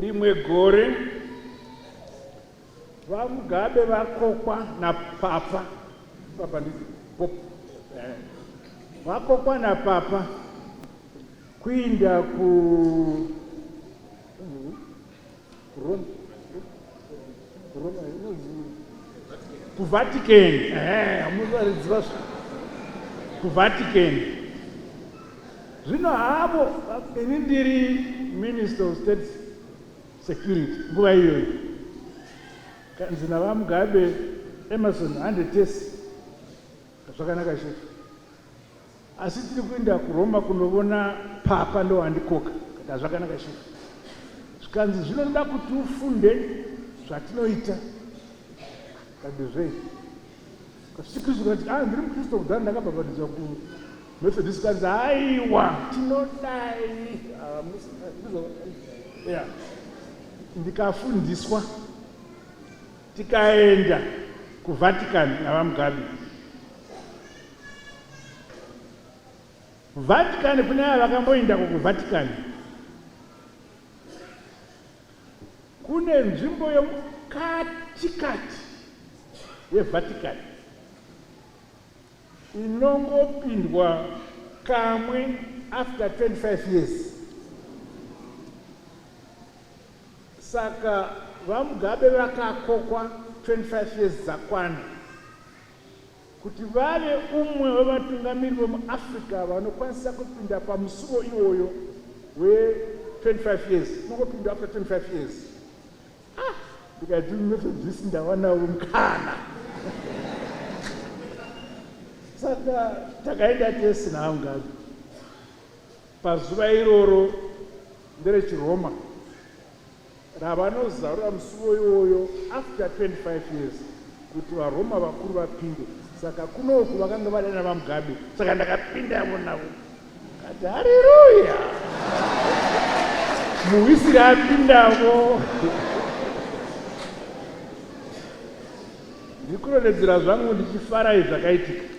Rimwe gore VaMugabe vakokwa napapa papa ndi pop eh, vakokwa napapa kuinda ku Rome kuvatican hamuzvaridziva kuvatican zvino havo ini ndiri minister of state security nguva iyoyo kanzi navamugabe emerson handetesi zvakanaka chefu Asi tiri kuenda kuRoma kunovona papa ndowandikoka. Ndikati zvakanaka chief. Zvikanzi zvino ndoda kuti ufunde zvatinoita. Ndikati zvei? Kasikizo kati ah ndiri muKristo kudhara ndakabhabhatidzwa ku Methodist kanzi aiwa tinodai. Ah, yeah. Ndikafundiswa tikaenda kuVatican naVaMugabe. Vatican kune ava vakamboendako kuVatican kune nzvimbo yomukatikati yeVatican inongopindwa kamwe after 25 years saka vamugabe vakakokwa 25 years dzakwana kuti vave umwe wevatungamiri vemuAfrica vanokwanisa kupinda pamusuvo iwoyo we 25 years unongopinda after 25 years ah ndikati methodist ndawanawo mukana saka takaenda tese naamgazi pazuva iroro nderechiroma ravanozarura musuvo iwoyo after 25 years kuti varoma vakuru vapinde saka kunoku vakanga vadana vamugabe saka ndakapinda yavo navo kati hariruya muwisiri apindavo ndikunonedzera zvangu ndichifarai zvakaitika